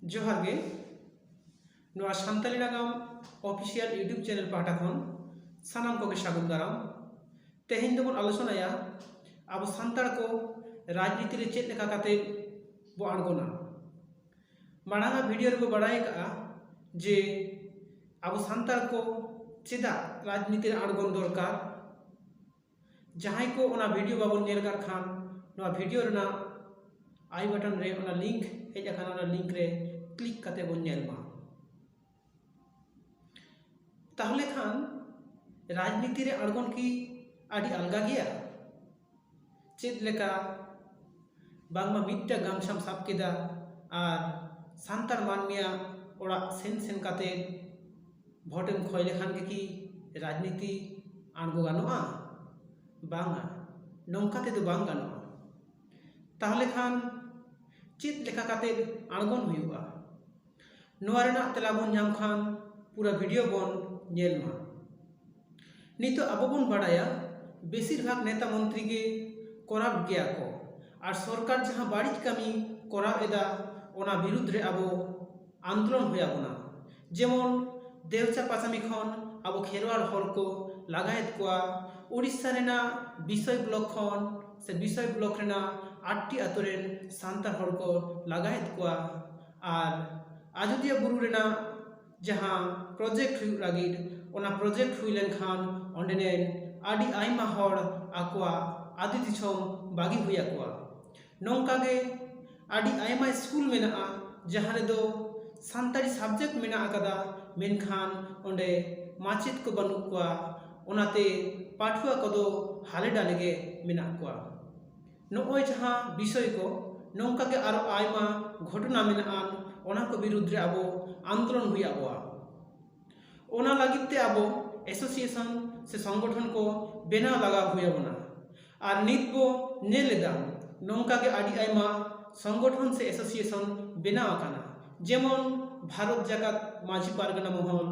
ᱡᱚᱦᱟᱨ ᱜᱮ ᱱᱚᱣᱟ ᱥᱟᱱᱛᱟᱞᱤ ᱱᱟᱜᱟᱢ ᱚᱯᱷᱤᱥᱤᱭᱟᱞ ᱤᱭᱩᱴᱩᱵᱽ ᱪᱮᱱᱮᱞ ᱯᱟᱦᱴᱟ ᱠᱷᱚᱱ ᱥᱟᱱᱟᱢ ᱠᱚᱜᱮ ᱥᱟᱹᱜᱩᱱ ᱫᱟᱨᱟᱢ ᱛᱮᱦᱮᱧ ᱫᱚᱵᱚᱱ ᱟᱞᱳᱪᱚᱱᱟᱭᱟ ᱟᱵᱚ ᱥᱟᱱᱛᱟᱲ ᱠᱚ ᱨᱟᱡᱽᱱᱤᱛᱤ ᱨᱮ ᱪᱮᱫ ᱞᱮᱠᱟ ᱠᱟᱛᱮ ᱵᱚ ᱟᱬᱜᱚᱱᱟ ᱢᱟᱲᱟᱝ ᱟᱜ ᱵᱷᱤᱰᱤᱭᱳ ᱨᱮᱵᱚ ᱵᱟᱲᱟᱭ ᱟᱠᱟᱫᱼᱟ ᱡᱮ ᱟᱵᱚ ᱥᱟᱱᱛᱟᱲ ᱠᱚ ᱪᱮᱫᱟᱜ ᱨᱟᱡᱽᱱᱤᱛᱤ ᱨᱮ ᱟᱬᱜᱚᱱ ᱫᱚᱨᱠᱟᱨ ᱡᱟᱦᱟᱸᱭ ᱠᱚ ᱚᱱᱟ ᱵᱷᱤᱰᱤᱭᱳ ᱵᱟᱵᱚᱱ ᱧᱮᱞ ᱟᱠᱟᱫ ᱠᱷᱟᱱ ᱱᱚᱣᱟ ᱵᱷᱤᱰᱤᱭᱳ ᱨᱮᱱᱟᱜ ᱟᱭ ᱵᱟᱴᱚᱱ ᱨᱮ ᱚᱱᱟ ᱞᱤᱝᱠ ᱦᱮᱡ ᱟᱠᱟᱱᱟ ᱚᱱᱟ ᱞᱤᱝᱠ ᱨᱮ ᱠᱞᱤᱠ ᱠᱟᱛᱮ ᱵᱚᱱ ᱧᱮᱞ ᱢᱟ ᱛᱟᱦᱚᱞᱮ ᱠᱷᱟᱱ ᱨᱟᱡᱽᱱᱤᱛᱤ ᱨᱮ ᱟᱬᱜᱚᱱ ᱠᱤ ᱟᱹᱰᱤ ᱟᱞᱜᱟ ᱜᱮᱭᱟ ᱪᱮᱫ ᱞᱮᱠᱟ ᱵᱟᱝᱢᱟ ᱢᱤᱫᱴᱟᱝ ᱜᱟᱢᱪᱷᱟᱢ ᱥᱟᱵ ᱠᱮᱫᱟ ᱟᱨ ᱥᱟᱱᱛᱟᱲ ᱢᱟᱹᱱᱢᱤᱭᱟᱜ ᱚᱲᱟᱜ ᱥᱮᱱ ᱥᱮᱱ ᱠᱟᱛᱮ ᱵᱷᱳᱴ ᱮᱢ ᱠᱷᱚᱭ ᱞᱮᱠᱷᱟᱱ ᱜᱮᱠᱤ ᱨᱟᱡᱽᱱᱤᱛᱤ ᱟᱬᱜᱚ ᱜᱟᱱᱚᱜᱼᱟ ᱵᱟᱝᱟ ᱱᱚᱝᱠᱟ ᱛᱮᱫᱚ ᱵᱟᱝ ᱜᱟᱱᱚᱜᱼᱟ ᱛᱟᱦᱚᱞᱮ ᱠᱷᱟᱱ ᱪᱮᱫ ᱞᱮᱠᱟ ᱠᱟᱛᱮ ᱟᱬᱜᱚᱱ ᱦᱩᱭᱩᱜᱼᱟ ᱱᱚᱣᱟ ᱨᱮᱱᱟᱜ ᱛᱮᱞᱟ ᱵᱚᱱ ᱧᱟᱢ ᱠᱷᱟᱱ ᱯᱩᱨᱟᱹ ᱵᱷᱤᱰᱤᱭᱳ ᱵᱚᱱ ᱧᱮᱞ ᱢᱟ ᱱᱤᱛᱚᱜ ᱟᱵᱚ ᱵᱚᱱ ᱵᱟᱲᱟᱭᱟ ᱵᱮᱥᱤᱨ ᱵᱷᱟᱜᱽ ᱱᱮᱛᱟ ᱢᱚᱱᱛᱨᱤ ᱜᱮ ᱠᱚᱨᱟᱯ ᱜᱮᱭᱟ ᱠᱚ ᱟᱨ ᱥᱚᱨᱠᱟᱨ ᱡᱟᱦᱟᱸ ᱵᱟᱹᱲᱤᱡ ᱠᱟᱹᱢᱤ ᱠᱚᱨᱟᱣ ᱮᱫᱟ ᱚᱱᱟ ᱵᱤᱨᱩᱫᱽ ᱨᱮ ᱟᱵᱚ ᱟᱱᱫᱳᱞᱚᱱ ᱦᱩᱭ ᱟᱵᱚᱱᱟ ᱡᱮᱢᱚᱱ ᱫᱮᱣ ᱪᱟᱸᱯᱟ ᱠᱟᱹᱢᱤ ᱠᱷᱚᱱ ᱟᱵᱚ ᱠᱷᱮᱨᱣᱟᱞ ᱦᱚᱲ ᱠᱚ ᱞᱟᱜᱟᱭᱮᱫ ᱠᱚᱣᱟ ᱳᱰᱤᱥᱟ ᱨᱮᱱᱟᱜ ᱵᱤᱥᱚᱭ ᱵᱞᱚᱠ ᱠᱷᱚᱱ ᱥᱮ ᱵᱤᱥᱚᱭ ᱵᱞᱚᱠ ᱨᱮᱱᱟᱜ ᱟᱴᱴᱤ ᱟᱛᱳ ᱨᱮᱱ ᱥᱟᱱᱛᱟᱲ ᱦᱚᱲ ᱠᱚ ᱞᱟᱜᱟᱭᱮᱫ ᱠᱚᱣᱟ ᱟᱨ ᱟᱡᱳᱫᱤᱭᱟᱹ ᱵᱩᱨᱩ ᱨᱮᱱᱟᱜ ᱡᱟᱦᱟᱸ ᱯᱨᱚᱡᱮᱠᱴ ᱦᱩᱭᱩᱜ ᱞᱟᱹᱜᱤᱫ ᱚᱱᱟ ᱯᱨᱚᱡᱮᱠᱴ ᱦᱩᱭ ᱞᱮᱱᱠᱷᱟᱱ ᱚᱸᱰᱮ ᱨᱮᱱ ᱟᱹᱰᱤ ᱟᱭᱢᱟ ᱦᱚᱲ ᱟᱠᱚᱣᱟᱜ ᱟᱹᱛᱩ ᱫᱤᱥᱚᱢ ᱵᱟᱹᱜᱤ ᱦᱩᱭ ᱟᱠᱚᱣᱟ ᱱᱚᱝᱠᱟ ᱜᱮ ᱟᱹᱰᱤ ᱟᱭᱢᱟ ᱤᱥᱠᱩᱞ ᱢᱮᱱᱟᱜᱼᱟ ᱡᱟᱦᱟᱸ ᱨᱮᱫᱚ ᱥᱟᱱᱛᱟᱲᱤ ᱥᱟᱵᱡᱮᱠᱴ ᱢᱮᱱᱟᱜ ᱟᱠᱟᱫᱟ ᱢᱮᱱᱠᱷᱟᱱ ᱚᱸᱰᱮ ᱢᱟᱪᱮᱫ ᱠᱚ ᱵᱟᱹᱱᱩᱜ ᱠᱚᱣᱟ ᱚᱱᱟᱛᱮ ᱯᱟᱹᱴᱷᱩᱣᱟᱹ ᱠᱚᱫᱚ ᱦᱟᱞᱮ ᱰᱟᱞᱮ ᱜᱮ ᱢᱮᱱᱟᱜ ᱠᱚᱣᱟ ᱱᱚᱜᱼᱚᱭ ᱡᱟᱦᱟᱸ ᱵᱤᱥᱚᱭ ᱠᱚ ᱱᱚᱝᱠᱟ ᱜᱮ ᱟᱨᱚ ᱟᱭᱢᱟ ᱜᱷᱚᱴᱚᱱᱟ ᱢᱮᱱᱟᱜᱼᱟ ᱚᱱᱟ ᱠᱚ ᱵᱤᱨᱩᱫᱽ ᱨᱮ ᱟᱵᱚ ᱟᱱᱫᱳᱞᱚᱱ ᱦᱩᱭ ᱟᱵᱚᱣᱟ ᱚᱱᱟ ᱞᱟᱹᱜᱤᱫ ᱛᱮ ᱟᱵᱚ ᱮᱥᱳᱥᱤᱭᱮᱥᱚᱱ ᱥᱮ ᱥᱚᱝᱜᱚᱴᱷᱚᱱ ᱠᱚ ᱵᱮᱱᱟᱣ ᱞᱟᱜᱟᱣ ᱦᱩᱭ ᱟᱵᱚᱱᱟ ᱟᱨ ᱱᱤᱛ ᱵᱚ ᱧᱮᱞ ᱮᱫᱟ ᱱᱚᱝᱠᱟ ᱜᱮ ᱟᱹᱰᱤ ᱟᱭᱢᱟ ᱥᱚᱝᱜᱚᱴᱷᱚᱱ ᱥᱮ ᱮᱥᱳᱥᱤᱭᱮᱥᱚᱱ ᱵᱮᱱᱟᱣ ᱟᱠᱟᱱᱟ ᱡᱮᱢᱚᱱ ᱵᱷᱟᱨᱚᱛ ᱡᱟᱠᱟᱛ ᱢᱟᱹᱡᱷᱤ ᱯᱟᱨᱜᱟᱱᱟ ᱢᱚᱦᱚᱞ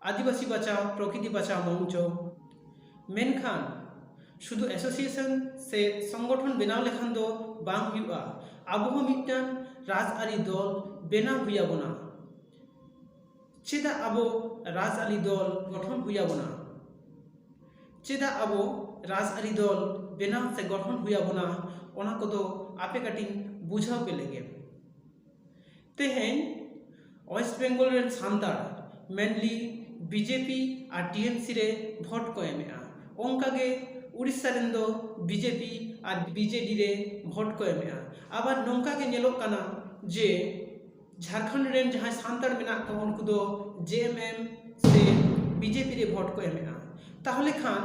ᱟᱹᱫᱤᱵᱟᱹᱥᱤ ᱵᱟᱪᱟᱣ ᱯᱨᱚᱠᱨᱤᱛᱤ ᱵᱟᱪᱟᱣ ᱢᱚᱧᱪᱚ ᱢᱮᱱᱠᱷᱟᱱ ᱥᱩᱫᱷᱩ ᱮᱥᱳᱥᱤᱭᱮᱥᱚᱱ ᱥᱮ ᱥᱚᱝᱜᱚᱴᱷᱚᱱ ᱵᱮᱱᱟᱣ ᱞᱮᱠᱷᱟᱱ ᱫᱚ ᱵᱟᱝ ᱦᱩᱭᱩᱜᱼᱟ ᱟᱵᱚ ᱦᱚᱸ ᱢᱤᱫᱴᱟᱝ ᱨᱟᱡᱽ ᱟᱹᱨᱤ ᱫᱚᱞ ᱵᱮᱱᱟᱣ ᱦᱩᱭ ᱟᱵᱚᱱᱟ ᱪᱮᱫᱟᱜ ᱟᱵᱚ ᱨᱟᱡᱽ ᱟᱹᱨᱤ ᱫᱚᱞ ᱜᱚᱴᱷᱚᱱ ᱦᱩᱭ ᱟᱵᱚᱱᱟ ᱪᱮᱫᱟᱜ ᱟᱵᱚ ᱨᱟᱡᱽ ᱟᱹᱨᱤ ᱫᱚᱞ ᱵᱮᱱᱟᱣ ᱥᱮ ᱜᱚᱴᱷᱚᱱ ᱦᱩᱭ ᱟᱵᱚᱱᱟ ᱚᱱᱟ ᱠᱚᱫᱚ ᱟᱯᱮ ᱠᱟᱹᱴᱤᱡ ᱵᱩᱡᱷᱟᱹᱣ ᱯᱮ ᱞᱮᱜᱮ ᱛᱮᱦᱮᱧ ᱳᱭᱮᱥᱴ ᱵᱮᱝᱜᱚᱞ ᱨᱮᱱ ᱥᱟᱱᱛᱟᱲ ᱢᱮᱱᱞᱤ ᱵᱤᱡᱮᱯᱤ ᱟᱨ ᱴᱤ ᱮᱢ ᱥᱤ ᱨᱮ ᱵᱷᱳᱴ ᱠᱚ ᱮᱢᱮᱜᱼᱟ ᱚᱱᱠᱟ ᱜᱮ ᱳᱰᱤᱥᱟ ᱨᱮᱱ ᱫᱚ ᱵᱤᱡᱮᱯᱤ ᱟᱨ ᱵᱤ ᱡᱮ ᱰᱤ ᱨᱮ ᱵᱷᱳᱴ ᱠᱚ ᱮᱢᱮᱜᱼᱟ ᱟᱵᱟᱨ ᱱᱚᱝᱠᱟ ᱜᱮ ᱧᱮᱞᱚᱜ ᱠᱟᱱᱟ ᱡᱮ ᱡᱷᱟᱲᱠᱷᱚᱸᱰ ᱨᱮᱱ ᱡᱟᱦᱟᱸᱭ ᱥᱟᱱᱛᱟᱲ ᱢᱮᱱᱟᱜ ᱠᱚᱣᱟ ᱩᱱᱠᱩ ᱫᱚ ᱡᱮ ᱮᱢ ᱮᱢ ᱥᱮ ᱵᱤ ᱡᱮ ᱯᱤ ᱨᱮ ᱵᱷᱳᱴ ᱠᱚ ᱮᱢᱮᱜᱼᱟ ᱛᱟᱦᱚᱞᱮ ᱠᱷᱟᱱ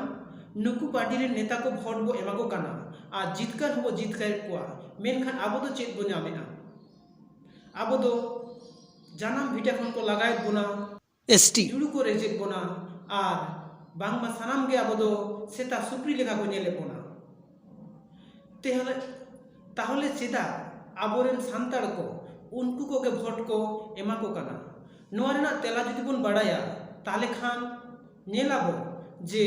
ᱱᱩᱠᱩ ᱯᱟᱨᱴᱤ ᱨᱮᱱ ᱱᱮᱛᱟ ᱠᱚ ᱵᱷᱳᱴ ᱵᱚ ᱮᱢᱟ ᱠᱚ ᱠᱟᱱᱟ ᱟᱨ ᱡᱤᱛᱠᱟᱹᱨ ᱦᱚᱸᱵᱚ ᱡᱤᱛᱠᱟᱹᱨᱮᱜ ᱠᱚᱣᱟ ᱢᱮᱱᱠᱷᱟᱱ ᱟᱵᱚ ᱫᱚ ᱪᱮᱫ ᱵᱚ ᱧᱟᱢᱮᱜᱼᱟ ᱟᱵᱚ ᱫᱚ ᱡᱟᱱᱟᱢ ᱵᱷᱤᱴᱟᱹ ᱠᱷᱚᱱ ᱠᱚ ᱞᱟᱜᱟᱭᱮᱫ ᱵᱚᱱᱟ ᱮᱥ ᱴᱤ ᱡᱩᱲᱩ ᱠᱚ ᱨᱮᱡᱮᱫ ᱵᱚᱱᱟ ᱟᱨ ᱵᱟᱝᱢᱟ ᱥᱟᱱᱟᱢ ᱜᱮ ᱟᱵᱚ ᱫᱚ ᱥᱮᱛᱟ ᱥᱩᱠᱨᱤ ᱞᱮᱠᱟ ᱠᱚ ᱧᱮᱞᱮᱫ ᱵᱚᱱᱟ ᱛᱮᱦᱚᱞᱮ ᱛᱟᱦᱚᱞᱮ ᱪᱮᱫᱟᱜ ᱟᱵᱚᱨᱮᱱ ᱥᱟᱱᱛᱟᱲ ᱠᱚ ᱩᱱᱠᱩ ᱠᱚᱜᱮ ᱵᱷᱳᱴ ᱠᱚ ᱮᱢᱟ ᱠᱚ ᱠᱟᱱᱟ ᱱᱚᱣᱟ ᱨᱮᱱᱟᱜ ᱛᱮᱞᱟ ᱡᱩᱫᱤ ᱵᱚᱱ ᱵᱟᱲᱟᱭᱟ ᱛᱟᱦᱚᱞᱮ ᱠᱷᱟᱱ ᱧᱮᱞ ᱟᱵᱚ ᱡᱮ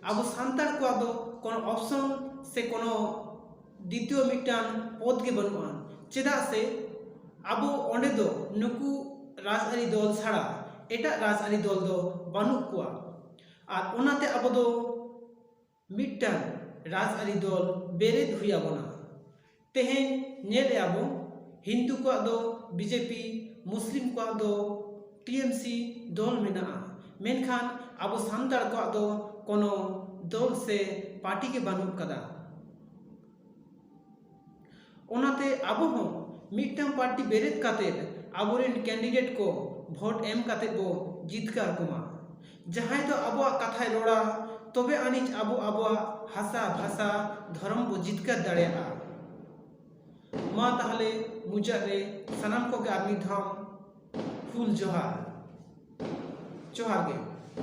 ᱟᱵᱚ ᱥᱟᱱᱛᱟᱲ ᱠᱚᱣᱟᱜ ᱫᱚ ᱠᱳᱱᱳ ᱚᱯᱥᱚᱱ ᱥᱮ ᱠᱳᱱᱳ ᱫᱤᱛᱭᱚ ᱢᱤᱫᱴᱟᱝ ᱯᱚᱫᱽ ᱜᱮ ᱵᱟᱹᱱᱩᱜᱼᱟ ᱪᱮᱫᱟᱜ ᱥᱮ ᱟᱵᱚ ᱚᱸᱰᱮ ᱫᱚ ᱱᱩᱠᱩ ᱨᱟᱡᱽᱟᱹᱨᱤ ᱫᱚᱞ ᱪᱷᱟᱲᱟ ᱮᱴᱟᱜ ᱨᱟᱡᱽᱟᱹᱨᱤ ᱫᱚᱞ ᱫᱚ ᱵᱟᱹᱱᱩᱜ ᱠᱚᱣᱟ ᱟᱨ ᱚᱱᱟᱛᱮ ᱟᱵᱚ ᱫᱚ ᱢᱤᱫᱴᱟᱝ ᱨᱟᱡᱽᱟᱹᱨᱤ ᱫᱚᱞ ᱵᱮᱨᱮᱫ ᱦᱩᱭ ᱟᱵᱚᱱᱟ ᱛᱮᱦᱮᱧ ᱧᱮᱞᱮᱜᱼᱟ ᱵᱚᱱ ᱦᱤᱱᱫᱩ ᱠᱚᱣᱟᱜ ᱫᱚ ᱵᱤᱡᱮᱯᱤ ᱢᱩᱥᱞᱤᱢ ᱠᱚᱣᱟᱜ ᱫᱚ ᱴᱤᱮᱢᱥᱤ ᱫᱚᱞ ᱢᱮᱱᱟᱜᱼᱟ ᱢᱮᱱᱠᱷᱟᱱ ᱟᱵᱚ ᱥᱟᱱᱛᱟᱲ ᱠᱚᱣᱟᱜ ᱫᱚ ᱠᱳᱱᱳ ᱫᱚᱞ ᱥᱮ ᱯᱟᱨᱴᱤ ᱜᱮ ᱵᱟᱹᱱᱩᱜ ᱠᱟᱫᱟ ᱚᱱᱟᱛᱮ ᱟᱵᱚ ᱦᱚᱸ ᱢᱤᱫᱴᱟᱝ ᱯᱟᱨᱴᱤ ᱵᱮᱨᱮᱫ ᱠᱟᱛᱮ ᱟᱵᱚᱨᱮᱱ ᱠᱮᱱᱰᱤᱰᱮᱴ ᱠᱚ ᱵᱷᱳᱴ ᱮᱢ ᱠᱟᱛᱮ ᱵᱚ ᱡᱤᱛᱠᱟᱹᱨ ᱠᱚᱢᱟ ᱡᱟᱦᱟᱸᱭ ᱫᱚ ᱟᱵᱚᱣᱟᱜ ᱠᱟᱛᱷᱟᱭ ᱨᱚᱲᱟ ᱛᱚᱵᱮ ᱟᱹᱱᱤᱡ ᱟᱵᱚ ᱟᱵᱚᱣᱟᱜ ᱦᱟᱥᱟ ᱵᱷᱟᱥᱟ ᱫᱷᱚᱨᱚᱢ ᱵᱚ ᱡᱤᱛᱠᱟᱹᱨ ᱫᱟᱲᱮᱭᱟᱜᱼᱟ ᱢᱟ ᱛᱟᱦᱞᱮ ᱢᱩᱪᱟᱹᱫ ᱨᱮ ᱥᱟᱱᱟᱢ ᱠᱚᱜᱮ ᱟᱨ ᱢᱤᱫ ᱫᱷᱟᱣ ᱦᱩᱞ ᱡᱚᱦᱟᱨ ᱡᱚᱦᱟᱨ ᱜᱮ